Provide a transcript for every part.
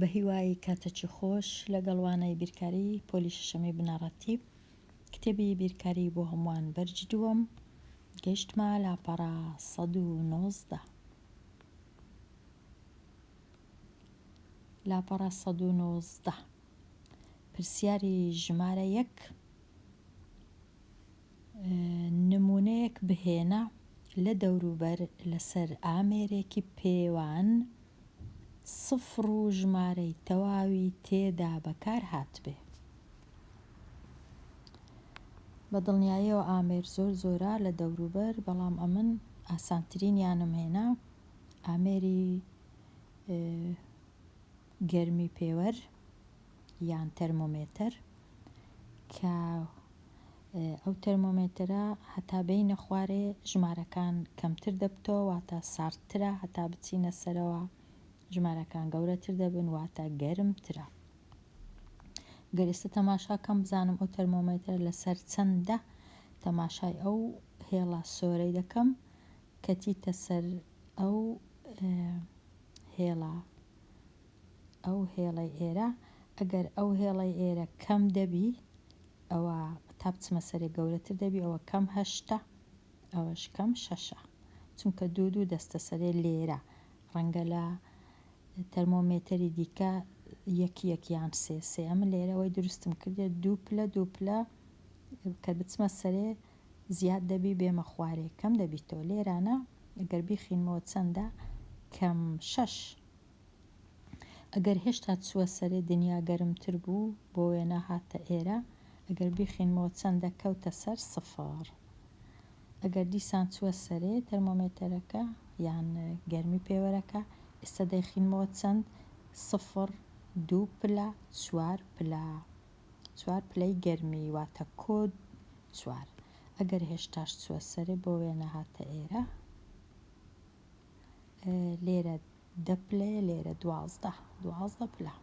بەهیوای کاتەکی خۆش لەگەڵ وانەی بیرکاری پۆلی شەشەمی بنەڕەتی کتێبی بیرکاری بۆ هەمووان بەرجی دووەم گەیشتمە لاپەڕە سەد و نۆزدە لاپەڕە سەد و نۆزدە پرسیاری ژمارە یەک نموونەیەک بهێنە لە دەوروبەر لەسەر ئامێرێکی پێوان سفر و ژمارەی تەواوی تێدا بەکار هاتبێ. بە دڵنیاییەوە ئامێر زۆر زۆرە لە دەوروبەر بەڵام ئەمن ئاسانترینیانم هێنا ئامێری گەرمی پێوەر یان تەرمۆمێتەر کە ئەو تەرمۆمێتەرە هەتا بینە خوارێ ژمارەکان کەمتر دەبتەوە واتە ساردترە هەتا بچینە سەرەوە ژمارەکان گەورەتر دەبن واتە گەرمترە گەر ئێستا تەماشا کەم بزانم ئەو تەرمۆمێتەر لەسەر چەندە تەماشای ئەو هێڵە سۆرەی دەکەم کەچیتە سەر ئەو هێڵە ئەو هێڵەی ئێرە ئەگەر ئەو هێڵەی ئێرە کەم دەبی ئەوە تا بچمە سەرێ گەورەتر دەبی ئەوە کەم هەشتە ئەوەش کەم شەشە چونکە دوو دوو دەستە سەرێ لێرە ڕەنگە لە تەرمۆمێتەری دیکە یەک یەک یان سێ سێ ئەم لێرەوەی دروستم کردێت دوو پلە دوو پلە کە بچمە سەرێ زیاد دەبی بێمە خوارێ کەم دەبیتەوە لێرانە ئەگەر بیخینمەوە چەندە کەم شەش ئەگەر هێشتا چووە سەرێ دنیا گەرمتر بوو بۆ وێنە هاتتە ئێرە ئەگەر بیخینمەوە چەندە کەوتە سەر سفر ئەگەر دیسان چووە سەرێ تەرمۆمێتەرەکە یان گەرمی پێوەرەکە ئێستا دەیخینمەوە چەند سفر دوو پلە چوار پلە چوار پلەی گەرمی واتە کۆد چوار ئەگەر هێشتاش چووە سەرێ بۆ وێنە هاتە ئێرە لێرە دە پلەیە لێرە دوازدە دوازدە پلە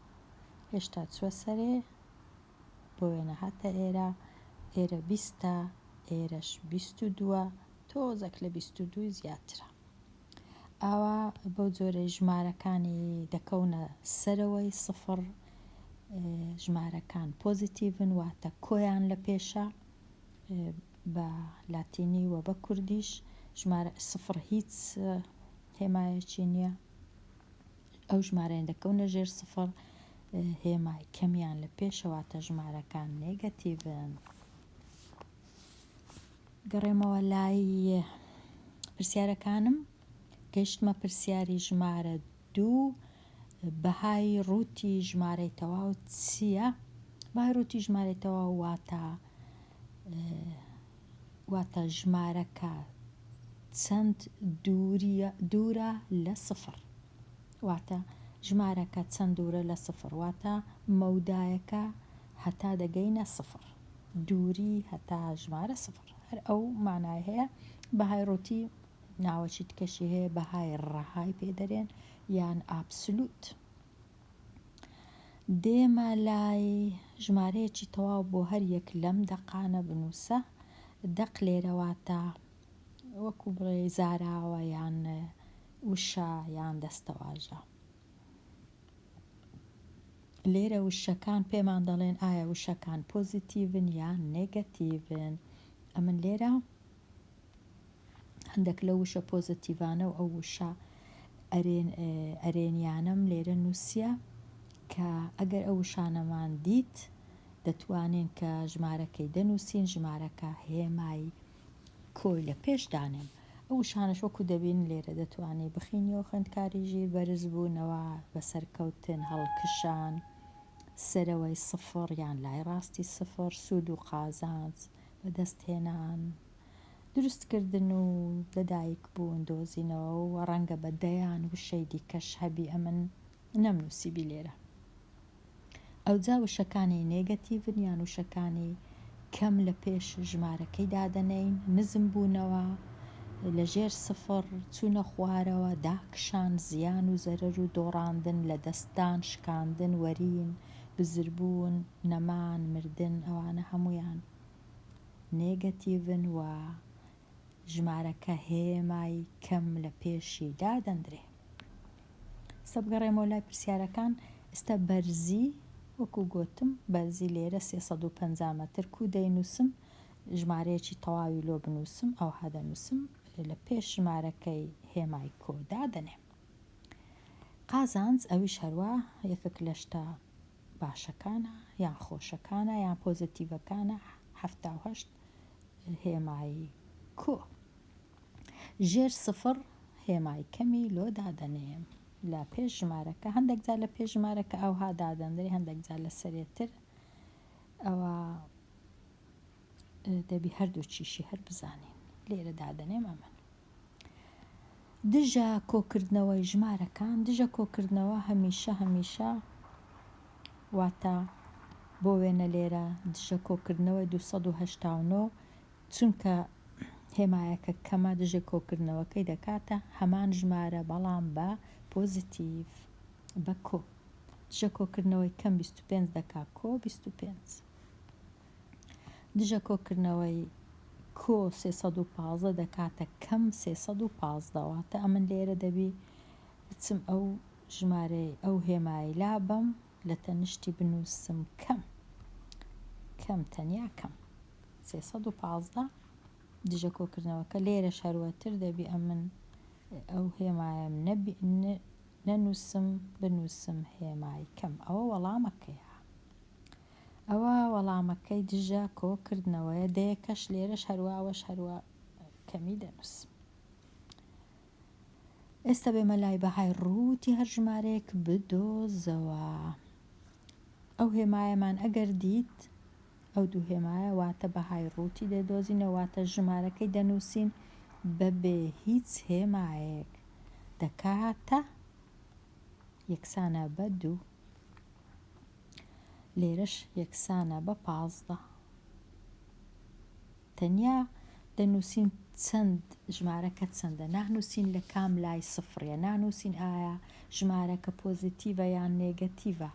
هێشتا چووە سەرێ بۆ وێنە هاتە ئێرە ئێرە بیستە ئێرەش بیست و دووە تۆزەک لە بیست و دوو زیاترە ئاوا بەو جۆرە ژمارەکانی دەکەونە سەرەوەی سفر ژمارەکان پۆزیتیڤن واتە کۆیان لە پێشە بە لاتینی و بە کوردیش ژمارە سفڕ هیچ هێمایەکی نییە ئەو ژمارەیان دەکەونە ژێر سفڕ هێمای کەمیان لە پێشە واتە ژمارەکان نێگەتیڤن گەڕێمەوە لای پرسیارەکانم گەشتمە پرسیاری ژمارە دوو بەهای ڕووتی ژمارەی تەواو چییە؟ بەهای ڕووتی ژمارەی تەواو واتە واتە ژمارەکە چەند دووریە دوورە لە سفر واتە ژمارەکە چەند دوورە لە سفر واتە مەودایەکە هەتا دەگەینە سفر دووری هەتا ژمارە سفر هەر ئەو مانای هەیە بەهای ڕووتی ناوەشی تکەشی هەیە بەهای ڕەهای پێدەرێن یان ئابسلوت. دێمە لای ژمارەیەکی تەواو بۆ هەر یەک لەم دەقانە بنووسە، دەق لێرە واتە وەکو بڵێ زاراوە یان وشە یان دەستەواژە. لێرە وشەکان پێمان دەڵێن ئایا وشەکان پۆزیتیڤن یان نێگەتیڤن. ئەمن لێرە هەندەک لەو وشە پۆزەتیڤانە و ئەو وشە ئەرێنیانەم لێرە نووسیە کە ئەگەر ئەو وشانەمان دیت دەتوانین کە ژمارەکەی دەنووسین ژمارەکە هێمای کۆی لە پێش دانێن ئەو وشانەش وەکو دەبین لێرە دەتوانانی بخینی و خوێندکاری ژیر بەرز بوونەوە بە سەرکەوتن هەڵکشان سەرەوەی سفڕ یان لای ڕاستی سفڕ سوود و قازانج بەدەستهێنان، دروستکردن و لەدایکبوون دۆزینەوە و ڕەنگە بە دەیان وشەی دیکەش هەبی ئەمن نەمنووسیبی لێرە. ئەوجا وشەکانی نێگەتیڤن یان وشەکانی کەم لە پێش ژمارەکەی دادەنێین، نزمبوونەوە، لە ژێر سفڕ، چوونە خوارەوە، داکشان، زیان و زەرەر و دۆڕاندن، لەدەستدان، شکاندن، وەرین، بزربوون، نەمان، مردن ئەوانە هەموویان نێگەتیڤن و ژمارەکە هێمای کەم لە پێشی دادەندرێ. ئیستا بگەڕێمەوە لای پرسیارەکان، ئیستا بەرزی وەکو گۆتم بەرزی لێرە سێ سەد و پەنجا مەتر کوو دەینووسم ژمارەیەکی تەواوی لۆ بنووسم ئەوها دەنووسم لە پێش ژمارەکەی هێمای کۆ دادەنێم. قازانج ئەویش هەروا یەکەک لە شتە باشەکانە یان خۆشەکانە یان پۆزەتیڤەکانە هەفتا و هەشت هێمای کۆ ژێر سفڕ هێمای کەمی لۆ دادەنێم لە پێش ژمارەکە هەندێک جار لە پێش ژمارەکە ئەوها دادەندرێ هەندێک جار لە سەرێتر ئەوە دەبی هەردووکیشی هەر بزانین لێرە دادەنێم ئەمەن دژە کۆکردنەوەی ژمارەکان دژە کۆکردنەوە هەمیشە هەمیشە واتە بۆ وێنە لێرە دژە کۆکردنەوەی 1970 چونکە هێمایەکە کەمە دژە کۆکردنەوەکەی دەکاتە هەمان ژمارە بەڵام بە پۆزیتیڤ بە کۆ دژە کۆکردنەوەی کەم 25 دەکا کۆ 25. دژە کۆکردنەوەی کۆ سێ سەد و پازدە دەکاتە کەم سێ سەد و پازدە واتە ئەمن لێرە دەبی بچم ئەو ژمارەی ئەو هێمای لابەم لە تەنیشتی بنووسم کەم کەم تەنیا کەم سێ سەد و پازدە دژە کۆکردنەوەکە لێرە شەروەتر دەبی ئەمن ئەو هێمایم نەبی نەنووسم بنووسم هێمای کەم ئەوە وەڵامەکەیە ئەوا وەڵامەکەی دژە کۆ کردنەوەیە دەیەکەش لێرەش هەروا ئەوەش هەروا کەمی دەنووسم. ئێستا بێمە لای بەهای ڕووتی هەر ژمارەیەک بدۆزەوە ئەو هێمایەمان ئەگەر دیت ئەو دوو هێمایە واتە بەهای ڕووتی دەدۆزینە واتە ژمارەکەی دەنووسین بەبێ هیچ هێمایەک دەکاتە یەکسانە بە دوو لێرەش یەکسانە بە پازدە. تەنیا دەنووسین چەند ژمارەکە چەندە نانووسین لە کام لای سفرە نانووسین ئایا ژمارەکە پۆزیتیڤە یان نێگەتیڤە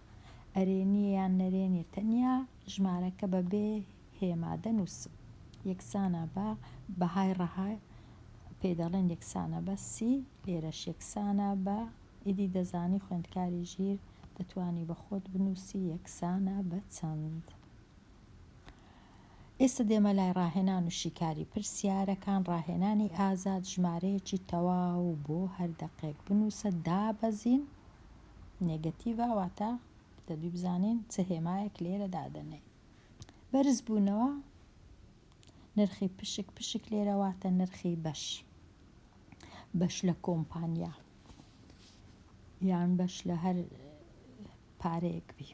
ئەرێنی یان نەرێنی تەنیا ژمارەکە بە بێ هێما دەنووسم یەکسانە بە بەهای ڕەهای پێ دەڵێن یەکسانە بە سی لێرەش یەکسانە بە ئیدی دەزانی خوێندکاری ژیر دەتوانی بە خۆت بنووسی یەکسانە بە چەند؟ ئێستە دێمە لای ڕاهێنان و شیکاری پرسیارەکان ڕاهێنانی ئازاد ژمارەیەکی تەواو بۆ هەر دەقێک بنووسە دابەزین نێگەتیڤە واتە دەبی بزانین چ هێمایەک لێرە دادەنێین بەرزبوونەوە نرخی پشک پشک لێرە واتە نرخی بەش بەش لە کۆمپانیا یان بەش لە هەر پارەیەک بی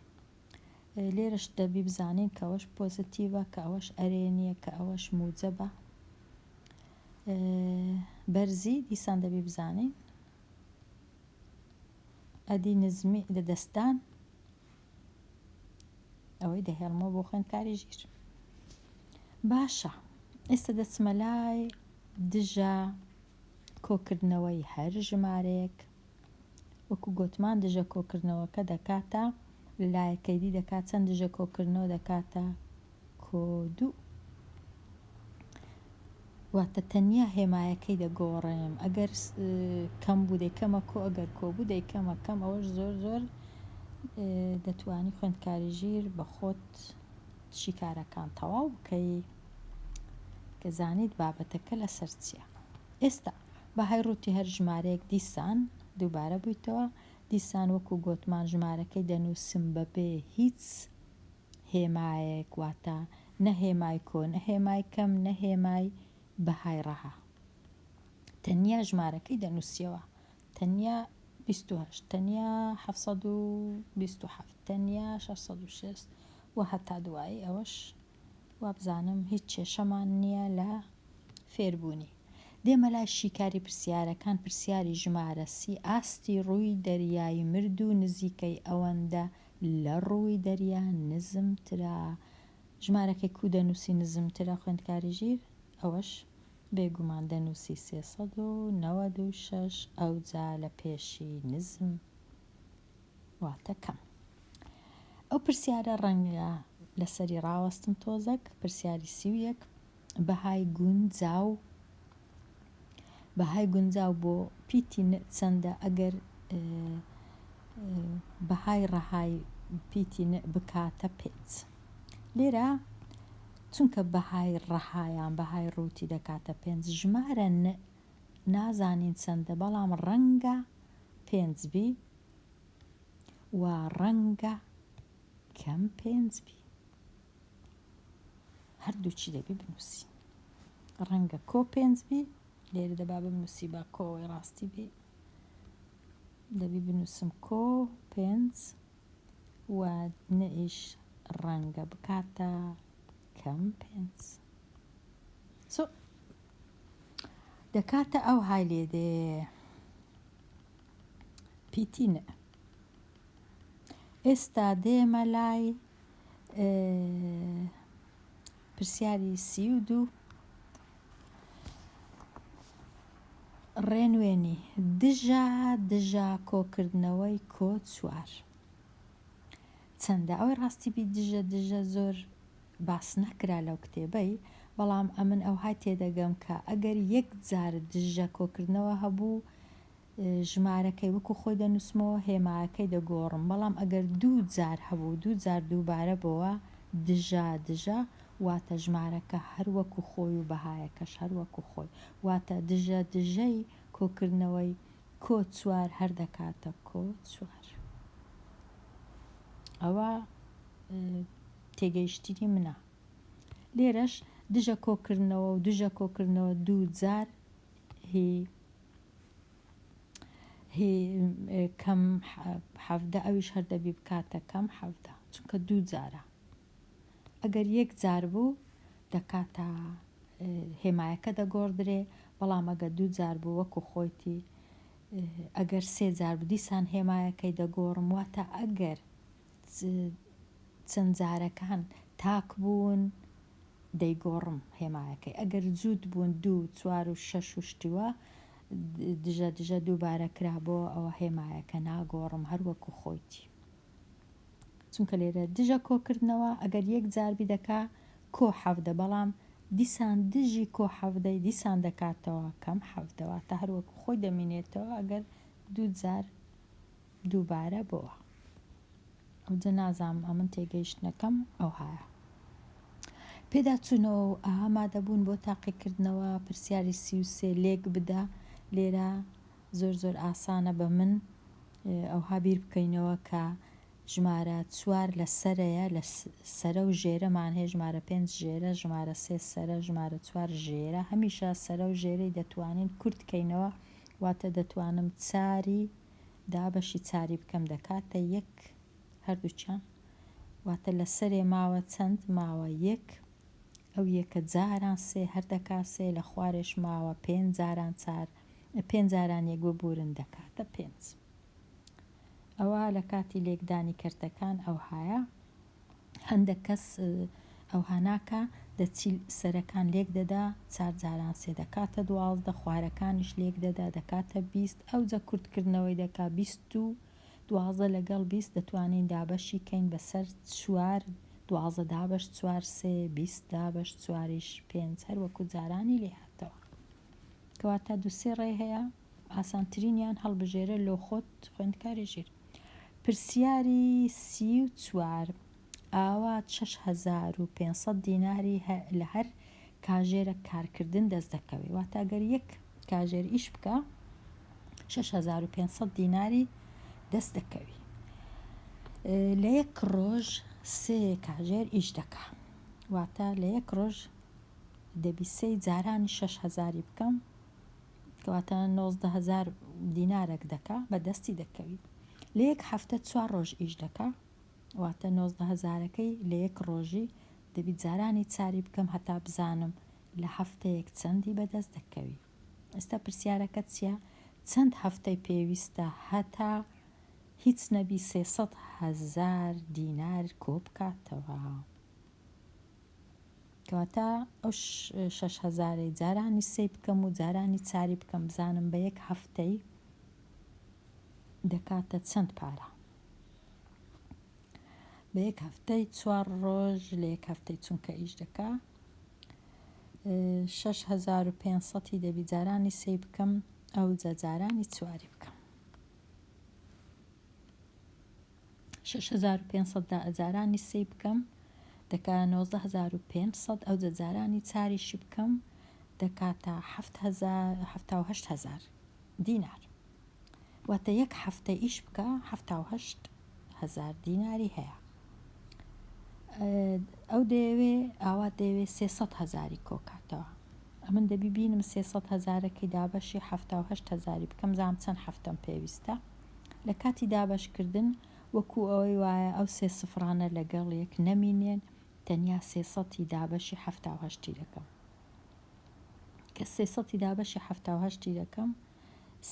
لێرەش دەبی بزانین کە ئەوەش پۆزتیڤە کە ئەوەش ئەرێنیە کە ئەوەش موجەبە بەرزی دیسان دەبی بزانین ئەدی نزمی لە دەستدان ئەوەی دەهێڵمەوە بۆ خوێندکاری ژیر باشە ئێستا دەچمە لای دژە کۆکردنەوەی هەر ژمارەیەک وەکو گوتمان دژە کۆکردنەوەکە دەکاتە لایەکەیدی دەکات چەند دژە کۆکردنەوە دەکاتە کۆ دوو. واتە تەنیا هێمایەکەی دەگۆڕێم ئەگەر کەم بوو دەیکەمە کۆ ئەگەر کۆ بوو دەیکەمە کەم ئەوەش زۆر زۆر دەتوانی خوێندکاری ژیر بە خۆت شیکارەکان تەواو بکەی کە زانیت بابەتەکە لەسەر چییە ئێستا بەهای ڕووتی هەر ژمارەیەک دیسان دووبارە بوویتەوە دیسان وەکو گۆتمان ژمارەکەی دەنووسم بەبێ هیچ هێمایەک واتە نە هێمای کۆ نە هێمای کەم نە هێمای بەهای ڕەها تەنیا ژمارەکەی دەنووسیەوە تەنیا 28 تەنیا 1970 تەنیا 606 و هەتا دوایی ئەوەش وابزانم هیچ کێشەمان نییە لە فێربوونی دێمە لای شیکاری پرسیارەکان پرسیاری ژمارەسی ئاستی ڕووی دەریایی مرد و نزیکەی ئەوەندە لە ڕووی دەریا نزمترە. ژمارەکەی کوو دەنووسی نزمترە خوێندکاری ژیر ئەوەش بێگومان دەنووسی سێ سەد و نەوەد و شەش ئەوجا لە پێشی نزم واتە کەم ئەو پرسیارە ڕەنگە لەسەری ڕاوەستم تۆزەک پرسیاری سی و یەک بەهای گونجاو بەهای گونجاو بۆ پیتی ن چەندە ئەگەر بەهای ڕەهای پیتی ن بکاتە پێنج لێرە چونکە بەهای ڕەهایان بەهای ڕووتی دەکاتە پێنج ژمارە ن نازانین چەندە بەڵام ڕەنگە پێنج بی و ڕەنگە کەم پێنج بی هەردووچی دەبی بنووسی ڕەنگە کۆ پێنج بی لێرە دەبا بنووسی با کۆی ڕاستی بی دەبی بنووسم کۆ پێنج و نەئیش ڕەنگە بکاتە کەم پێنج سۆ دەکاتە ئەو های لێ دێ پیتینە ئێستا دێمە لای پرسیاری سی و دوو ڕێنوێنی دژە دژە کۆکردنەوەی کۆ چوار چەندە ئەوەی ڕاستی بی دژە دژە زۆر باس نەکرا لەو کتێبەی بەڵام ئەمن ئەوهای تێدەگەم کە ئەگەر یەک جار دژە کۆکردنەوە هەبوو ژمارەکەی وەکو خۆی دەنووسمەوە هێمایەکەی دەگۆڕم بەڵام ئەگەر دوو جار هەبوو دوو جار دووبارە بۆوە دژە دژە واتە ژمارەکە هەر وەکو خۆی و بەهایەکەش هەر وەکو خۆی واتە دژە دژەی کۆکردنەوەی کۆ چوار هەر دەکاتە کۆ چوار ئەوە تێگەیشتنی منە لێرەش دژە کۆکردنەوە و دژە کۆکردنەوە دوو جار هی هی کەم حەڤدە ئەویش هەر دەبی بکاتە کەم حەڤدە چونکە دوو جارە ئەگەر یەک جار بوو دەکاتە هێمایەکە دەگۆڕدرێ بەڵام ئەگە دوو جار بوو وەکو خۆیتی ئەگەر سێ جار بدیسان هێمایەکەی دەگۆڕم واتە ئەگەر چەند جارەکان تاک بوون دەیگۆڕم هێمایەکەی ئەگەر جووت بوون دوو چوار و شەش و شتی وا دژە دژە دووبارە کرا بۆ ئەوە هێمایەکە ناگۆڕم هەر وەکو خۆیتی چونکە لێرە دژە کۆکردنەوە ئەگەر یەک جاربی دەکا کۆ حەفدە بەڵام دیسان دژی کۆ حەفدەی دیسان دەکاتەوە کەم حەفدەوە تا هەروەکو خۆی دەمینێتەوە ئەگەر دوو جار دووبارە بۆوا ئەوجە نازام ئەمن تێگەیشتنەکەم ئەوهایە پێداچوونەوە و ئامادەبوون بۆ تاقیکردنەوە پرسیاری سی و سێ لێک بدە لێرە زۆر زۆر ئاسانە بە من ئەوها بیر بکەینەوە کە ژمارە چوار لە سەرەیە لە سەرە و ژێرەمان هەیە ژمارە پێنج ژێرە ژمارە سێ سەرە ژمارە چوار ژێرە هەمیشە سەرە و ژێرەی دەتوانین کورتکەینەوە واتە دەتوانم چاری دا بەشی چاری بکەم دەکاتە یەک هەردووکیان واتە لە سەرێ ماوە چەند ماوە یەک ئەو یەکە جاران سێ هەر دەکا سێ لە خوارێش ماوە پێنج جاران چار پێنج جاران یەک ببورن دەکاتە پێنج ئەوە لە کاتی لێکدانی کەرتەکان ئەوهایە هەندەک کەس ئەوها ناکا دە چیل سەرەکان لێک دەدا چار جاران سێ دەکاتە دوازدە خوارەکانیش لێک دەدا دەکاتە بیست ئەوجە کورت کردنەوەی دەکا بیست و دوازدە لەگەڵ بیست دەتوانین دابەشی کەین بەسەر چوار دوازدە دابەش چوار سێ بیست دابەش چواریش پێنج هەر وەکو جارانی لێ هاتەوە کەواتە دوو سێ ڕێ هەیە ئاسانترینیان هەڵبژێرە لۆ خۆت خوێندکاری ژیر پرسیاری سی و چوار، ئاوا شەش هەزار و پێنج سەد دیناری لە هەر کاژێرەک کارکردن دەست دەکەوێت واتە گەر یەک کاژێر ئیش بکە شەش هەزار و پێنج سەد دیناری دەست دەکەوی لە یەک ڕۆژ سێ کاژێر ئیش دەکا واتە لە یەک ڕۆژ دەبی سێ جارانی شەش هەزاری بکەم کەواتە نۆزدە هەزار دینارەک دەکا بە دەستی دەکەوی لە یەک هەفتە چوار ڕۆژ ئیش دەکا واتە نۆزدە هەزارەکەی لە یەک ڕۆژی دەبی جارانی چاری بکەم هەتا بزانم لە هەفتەیەک چەندی بەدەست دەکەوی ئێستا پرسیارەکە چییە چەند هەفتەی پێویستە هەتا هیچ نەبی سێسەد هەزار دینار کۆبکاتەوە. کەواتە ئەو شەش هەزارەی جارانی سەی بکەم و جارانی چاری بکەم بزانم بە یەک هەفتەی دەکاتە چەند پارە بە یەک هەفتەی چوار ڕۆژ لە یەک هەفتەی چونکە ئیش دەکا 6500 دەبی جارانی سەی بکەم ئەو جەجارانی چواری بکەم شەش هەزار و پێنج سەد دا ئەجارانی سێی بکەم دەکاتە نۆزدە هەزار و پێنج سەد ئەوجە جارانی چاریشی بکەم دەکاتە حەفت هەزار حەفتا و هەشت هەزار دینار واتە یەک هەفتە ئیش بکە حەفتا و هەشت هەزار دیناری هەیە ئەو دەیەوێ ئاوا دەیەوێ سێسەد هەزاری کۆکاتەوە ئەمن دەبی بینم سێسەد هەزارەکەی دابەشی حەفتا و هەشت هەزاری بکەم زام چەند هەفتەم پێویستە لە کاتی دابەشکردن وەکو ئەوەی وایە ئەو سێ سفرانە لەگەڵ یەک نەمینێن تەنیا سێ سەتی دابەشی حەفتا و هەشتی دەکەم کە سێ سەتی دابەشی حەفتا و هەشتی دەکەم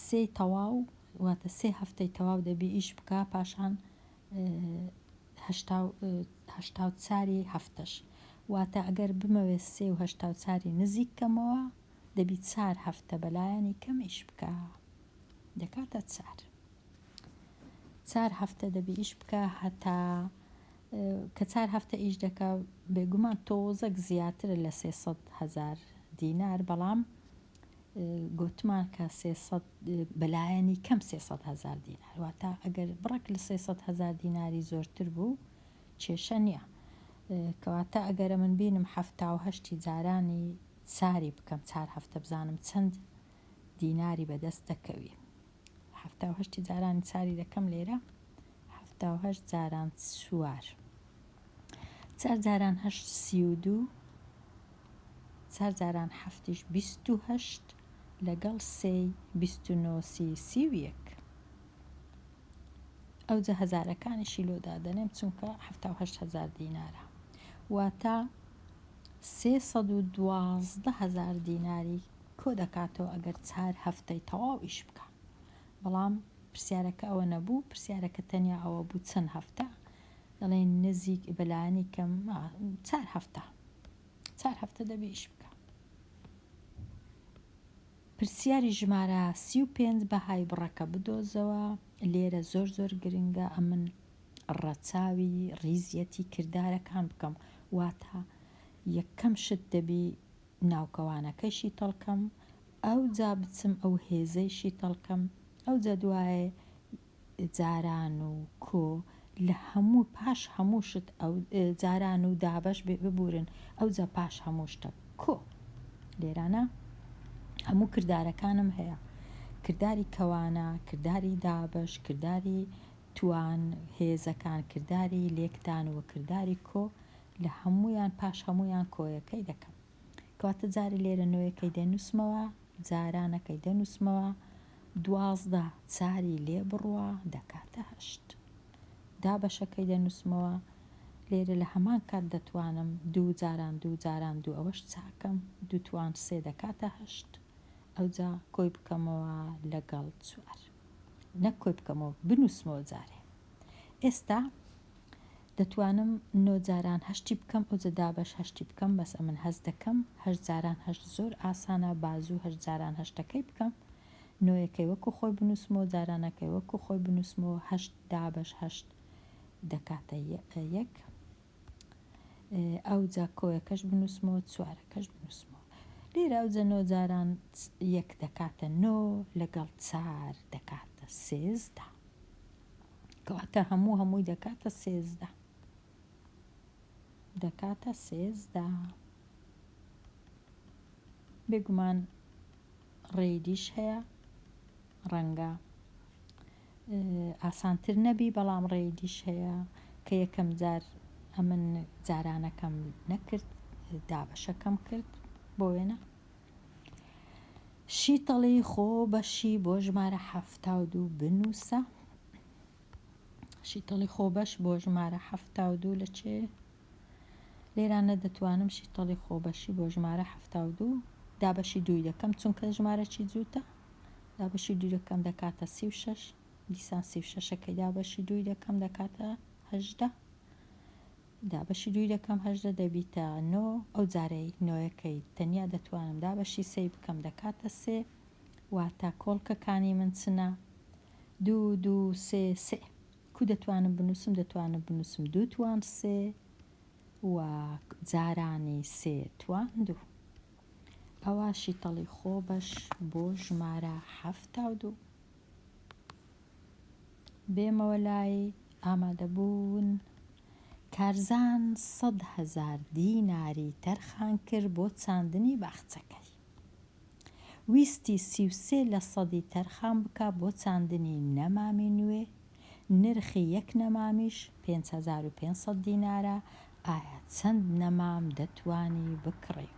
سێ تەواو واتە سێ هەفتەی تەواو دەبی ئیش بکە پاشان هەشتا و چاری هەفتەش واتە ئەگەر بمەوێ سێ و هەشتا و چاری نزیک کەمەوە دەبی چار هەفتە بەلایەنی کەم ئیش بکە دەکاتە چار چار هەفتە دەبی ئیش بکە هەتا کە چار هەفتە ئیش دەکە بێگومان تۆزەک زیاترە لە سێسەد هەزار دینار بەڵام گوتمان کە بەلایەنی کەم سێسەد هەزار دینار واتە ئەگەر بڕێک لە سێسەد هەزار دیناری زۆرتر بوو کێشە نییە کەواتە ئەگەرە من بینم حەفتا و هەشتی جارانی ساری بکەم چار هەفتە بزانم چەند دیناری بەدەست دەکەوی حەفتا و هەشتی جارانی چاری دەکەم لێرە حەفتا و هەشت جاران چوار چار جاران هەشت سی و دوو چار جاران حەفتیش بیست و هەشت لەگەڵ سێی بیست و نۆسی سی و یەک ئەوجە هەزارەکانیشی لۆدا دەنێم چونکە حەفتا و هەشت هەزار دینارە واتە سێ سەد و دوازدە هەزار دیناری کۆدەکاتەوە ئەگەر چار هەفتەی تەواو ئیش بکا بەڵام پرسیارەکە ئەوە نەبوو پرسیارەکە تەنیا ئەوە بوو چەند هەفتە دەڵێن نزیک بەلایەنی کەم چار هەفتە چار هەفتە دەبێ ئیش بکە پرسیاری ژمارە سی و پێنج بەهای بڕەکە بدۆزەوە لێرە زۆر زۆر گرنگە ئەمن ڕەچاوی ڕیزیەتی کردارەکان بکەم واتە یەکەم شت دەبی ناوکەوانەکەی شیتەڵکەم، ئەوجا بچم ئەو هێزەی شیتەڵکەم، ئەوجا دوای جاران و کۆ لە هەموو پاش هەموو شت ئەو جاران و دابەش بێ ببورن ئەوجا پاش هەموو شتە کۆ لێرانە هەموو کردارەکانم هەیە کرداری کەوانە کرداری دابەش کرداری توان هێزەکان کرداری لێکدان و کرداری کۆ لە هەموویان پاش هەموویان کۆیەکەی دەکەم کەواتە جارێ لێرە نۆیەکەی دەنووسمەوە جارانەکەی دەنووسمەوە دوازدە چاری لێ بڕوا دەکاتە هەشت دابەشەکەی دەنووسمەوە لێرە لە هەمان کات دەتوانم دوو جاران دوو جاران دوو ئەوەش چاکەم دوتوان سێ دەکاتە هەشت ئەوجا کۆی بکەمەوە لەگەڵ چوار نەک کۆی بکەمەوە بنووسمەوە جارێ ئێستا دەتوانم نۆ جاران هەشتی بکەم ئەوجە دابەش هەشتی بکەم بەس ئەمن هەست دەکەم هەشت جاران هەشت زۆر ئاسانە با زوو هەشت جاران هەشتەکەی بکەم نۆیەکەی وەکو خۆی بنوسمەوە جارانەکەی وەکو خۆی بنوسمەوە هەشت دابەش هەشت دەکاتە یەک ئەوجە کۆیەکەش بنوسمەوە چوارەکەش بنوسمەوە لێرە ئەوجە نۆ جاران یەک دەکاتە نۆ لەگەڵ چار دەکاتە سێزدە کەواتە هەموو هەمووی دەکاتە سێزدە دەکاتە سێزدە بێگومان ڕێدیش هەیە ڕەنگە ئاسانتر نەبی بەڵام ڕێدیش هەیە کە یەکەم جار ئەمن جارانەکەم نەکرد دابەشەکەم کرد بۆ وێنە شیتەڵی خۆ بەشی بۆ ژمارە حەفتا و دوو بنووسە شیتەڵی خۆ بەش بۆ ژمارە حەفتا و دوو لە چێ لێرانە دەتوانم شیتەڵی خۆ بەشی بۆ ژمارە حەفتا و دوو دابەشی دووی دەکەم چونکە ژمارەی جووتە دابەشی دوو دەکەم دەکاتە سی و شەش دیسان سی و شەشەکەی دابەشی دووی دەکەم دەکاتە هەژدە دابەشی دووی دەکەم هەژدە دەبیتە نۆ ئەو جارەی نۆیەکەی تەنیا دەتوانم دابەشی سێی بکەم دەکاتە سێ واتە کۆڵکە کانی من چنە دوو دوو سێ سێ کو دەتوانم بنووسم دەتوانم بنووسم دوو توان سێ و جارانی سێ توان دوو ئەوە شیتەڵی خۆ بەش بۆ ژمارە حەفتا و دوو بێمەوە لای ئامادەبوون کارزان سەد هەزار دیناری تەرخان کرد بۆ چاندنی باخچەکەی ویستی سی و سێ لە سەدی تەرخان بکا بۆ چاندنی نەمامی نوێ نرخی یەک نەمامیش پێنج هەزار و پێنج سەد دینارە ئایا چەند نەمام دەتوانی بکڕی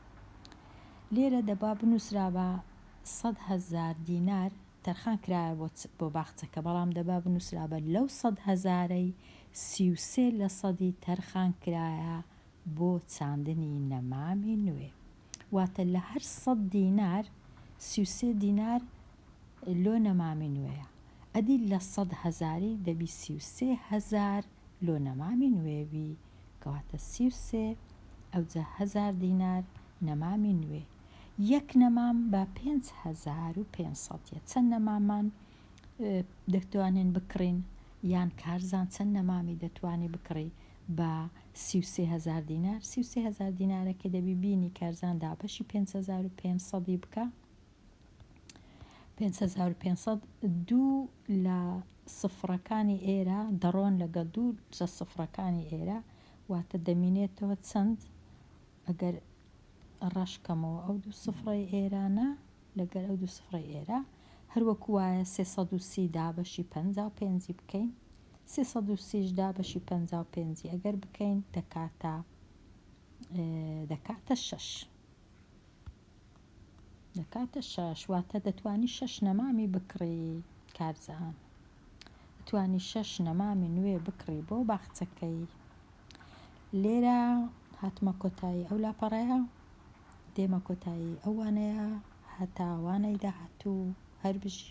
لێرە دەبا بنووسرابا سەد هەزار دینار تەرخان کرایە بۆ بۆ باخچەکە بەڵام دەبا بنووسرابا لەو سەد هەزارەی سی و سێ لەسەدی تەرخان کرایە بۆ چاندنی نەمامی نوێ واتە لە هەر سەد دینار سی و سێ دینار لۆ نەمامی نوێیە ئەدی لە سەد هەزاری دەبی سی و سێ هەزار لۆ نەمامی نوێ بی کەواتە سی و سێ ئەوجا هەزار دینار نەمامی نوێ یەک نەمام بە پێنج هەزار و پێنج سەد یە چەند نەمامان دەتوانین بکڕین یان کارزان چەند نەمامی دەتوانی بکڕی بە سی و سێ هەزار دینار سی و سێ هەزار دینارەکە دەبی بینی کارزان دابەشی پێنج هەزار و پێنج سەدی بکە پێنج هەزار و پێنج سەد دوو لە سفرەکانی ئێرە دەڕۆن لەگەڵ دوو جە سفرەکانی ئێرە واتە دەمینێتەوە چەند ئەگەر ڕەش کەمەوە ئەو دوو سفڕەی ئێرانە لەگەر ئەو دوو سفڕەی ئێرە هەر وەکو وایە سێ سەد و سی دابەشی پەنجا و پێنجی بکەین سێ سەد و سیش دابەشی پەنجا و پێنجی ئەگەر بکەین دەکاتە دەکاتە شەش. دەکاتە شەش واتە دەتوانی شەش نەمامی بکڕی کارزان توانی شەش نەمامی نوێ بکڕی بۆ باخچەکەی لێرە هاتمە کۆتایی ئەو لاپەڕەیە دێمە کۆتایی ئەوانەیە هەتاوانەی داهاتوو هەر بژی